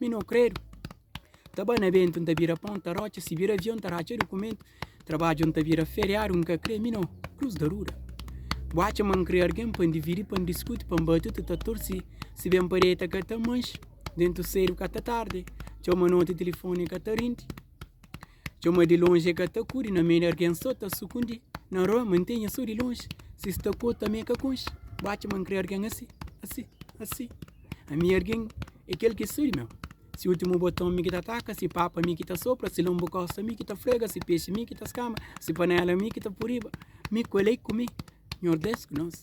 Mi no kredu Ta ba na bentu, nta bira pon, ta rotxa Si bira avion, ta ratxa dukumentu Trabadju nta bira feriadu, nka kre Mi no kruz da ruda Bu atxa ma nkre argen pa ndividi Pa ndiskuti, pa nbatu ti ta tursi Si ben pa deta ka ta manxi Dentu sedu ka ta tardi Txau ma noti tilifoni ka ta rindi Txeu ma di lonji e ka ta kuri Na mei di argen so ta sukundi Na rua ma ntenha so di lonji Si sta ku otu ami e ka konxi Batxi ma nkre argen asi, asi, asi Ami argen e kel ki so di meu Si ultimu boton mi ki ta taka Si papa mi ki ta sopra Si lombu kosta mi ki ta frega Si pexi mi ki ta skama Si panela mi ki ta puriba Mi ku elei ku mi Nhordes ku nos.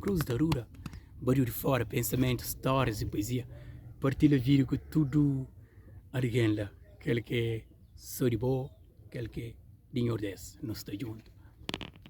Cruz ta rura, bariu di fora Pensamentu, stórias y puezia Partilha vídiu ku tudu algen la Kel k'é so di bo, kel k'é di Nhordés Nos ta djuntu.